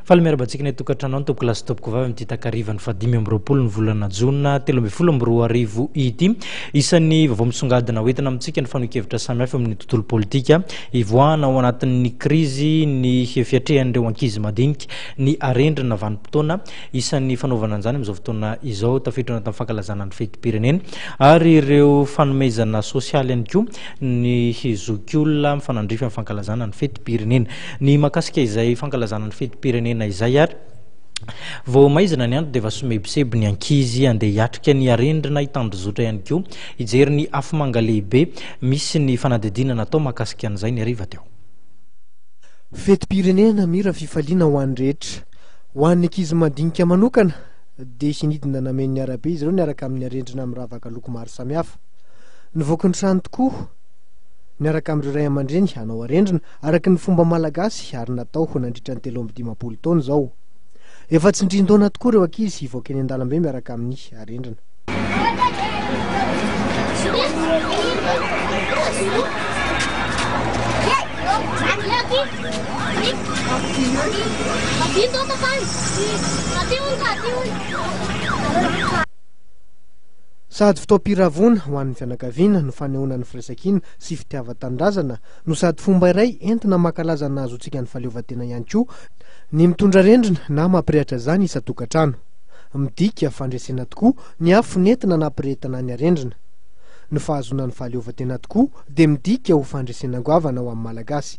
Faly miaraba antsika ny atokantrano any tompoko lasy tompoko vavy amin'ity takarivan'ny fahadimy amby roapolo ny volana jona telo ambin'ny folo amby roa arivo ity. Isan'ny vaovao misongadina hoentina amintsika ny fanehoan-kevitra samihafa amin'ny tontolo politika. Hivoahana ao anatin'ny krizy ny fiatrehan'ireo ankizy madinika. Ny arendrina vanim-potoana isan'ny fanaovana an'izany amin'izao fotoana izao, tafiditra ao anatin'ny fankalazana ny fetim-pirenena, ary ireo fanomezana sosialy ihany koa ny zokiolona mifanandrify amin'ny fankalazana ny fetim-pirenena. Ny mahakasika izay fankalazana ny fetim-pirenena izay ary, vao maizina ny andro dia efa somebiseby ny ankizy handeha hiatrika ny arendrina hitandrozotra ihany koa. Hijery ny afomanga lehibe misy ny fanadihadiana natao mahakasika an'izay ny hariva teo. Fetim-pirenena namira fifaliana ho an'ny rehetra. Ho an'ny ankizy madinika manokana dia hinidina namehy ny arabe izy ireo niaraka amin'ny arendrina miravaka loko maro samihafa. Nivoaky ny trano tokoa niaraka amin'ireo ray aman-dreny hanao arendrina araka ny fomba malagasy ary natao nandritra ny telo amby dimampolo taona izao. Efa tsindrin-daona tokoa ireo ankizy hivoaka eny an-dalambe miaraka amin'ny arendrina. Sady fotoam-piravoana ho an'ny fianakaviana no fanehoana ny firaisankina sy fitiavan-tanindrazana no sady fomba iray entina mankalaza ny nahazoantsika ny fahaleovantena ihany koa ny mitondra rendrina na mampirehatra izany isan-tokantrano. Midika fandresena tokoa ny afo nentina nampirehetana ny harendrina. Ny fahazoana ny fahaleovantena tokoa dia midika ho fandresena goavana ho amin'ny Malagasy.